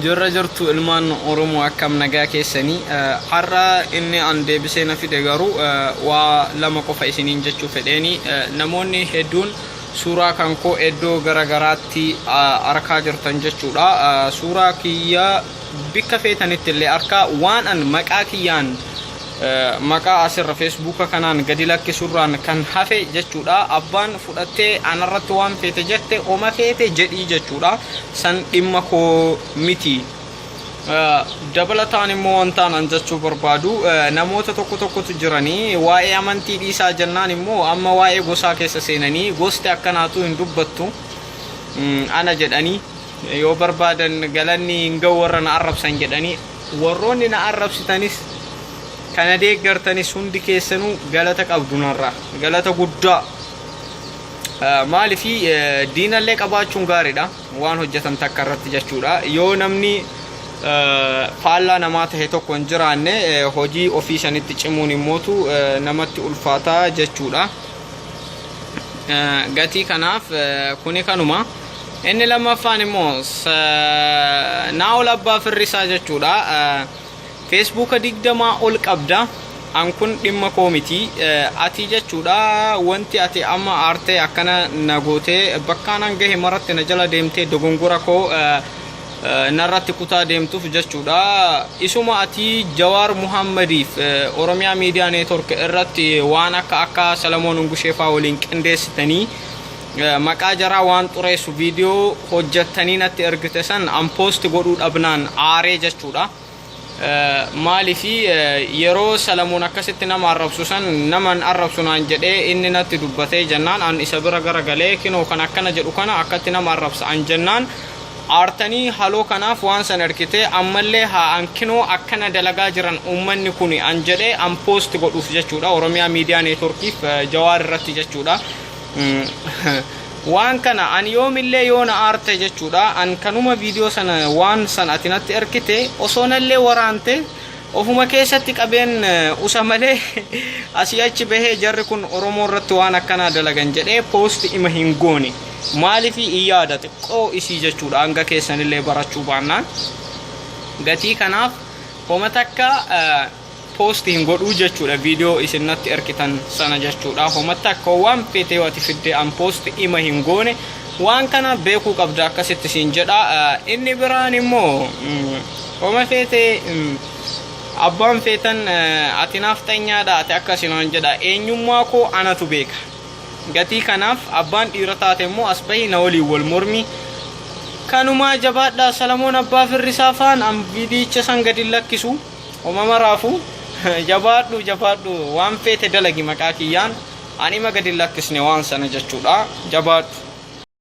Jirra jirtu ilmaan Oromoo akkam nagaa keessanii har'a inni an deebisee na fide garuu waa lama qofa isiniin jechuu fedheeni namoonni hedduun suuraa kan koo iddoo gara garaatti arkaa jirtan jechuudha suuraa kiyya bikka feetanitti illee arkaa waan an maqaa kiyyaan maqaa asirra feesbuuka kanaan gadi lakkisurraan kan hafe jechuudha abbaan fudhattee anarratti waan feete jette oma feete jedhii jechuudha san dhimma koo miti dabalataan immoo wantaan an jechuu barbaadu namoota tokko tokkotu jiranii waa'ee amantii dhiisaa jennaan immoo amma waa'ee gosaa keessa seenanii gosti akkanaatu hin dubbattu ana jedhanii Yoo barbaadan galanni hin ga'u warra na arrabsan jedhanii warroonni na arrabsitanis kana deeggartanis hundi keessanuu galata qabdu narraa galata guddaa maalifi diinallee qabaachuun gaariidha waan hojjetan takka irratti jechuudha yoo namni faallaa namaa tahe tokko hin jiraanne hojii ofii sanitti cimuun immootu namatti ulfaataa jechuudha gatii kanaaf kuni kanuma. Inni lammaffaan immoo naa'ol abbaa firrisaa jechuudha. Feesbuuka digdamaa ol qabda. An kun dhimma koo miti. Ati jechuudha wanti ati amma aartee akkana na gootee bakkaan an gahe maratti na jala deemtee dogongora koo narratti kutaa deemtuuf jechuudha. Isuma ati Jawaar Muhammadiif Oromiyaa Miidiyaa Neetwork irratti waan akka akka Salamoon Ungusheefaa waliin qindeessitanii Eh, maqaa jaraa waan xureessu viidiyoo hojjettanii natti ergite san unpost godhuu dhabnaan aaree jechuudha. Eh, Maaliif eh, yeroo Salamoon akkasitti nama arrabsu san naman arrabsu naan jedhee inni natti dubbatee jennaan an isa bira gara galee kinoo kan akkana jedhu kana akkatti nama arrabsa an jennaan aartanii haloo kanaaf waan san ergite ammallee haa an kinoo akkana dalagaa jiran uummanni kuni an jedhee unpost godhuuf jechuudha Oromiyaa Miidiyaa Neetworkiif eh, Jawaar irratti jechuudha. waan kana an yoomillee yoo na aarte jechuudha an kanuma viidiyoo sana waan san ati natti erkite osoo nallee waraante ofuma keessatti qabeen usa malee asii achi bahee jarri kun oromoo irratti waan akkanaa dalagan jedhee poosti ima hin goone maalifi in yaada xiqqoo isii jechuudha hanga keessanillee barachuu baannaan gatii kanaaf homa takka post hin godhuu jechuudha video isin natti erkitan sana jechuudha homatti akka waan feetee wati fiddee an post ima hin goone waan kana beekuu qabda akkasitti siin jedha inni biraan immoo homa feetee abbaan feetan ati naaf tanyaadha ati akkasi naan jedha eenyummaa koo anatu beeka gatii kanaaf abbaan dhiira taate immoo as bahi na waliin wal mormii kanumaa jabaadha salamoon abbaa firrisaa faan an viidiyicha san gadi lakkisu Homa maraafu jabaadhu jabaadhu waan feete dalagi maqaa kiyyaan anima gadi hin lakkisne waan sana jechuudha jabaadhu.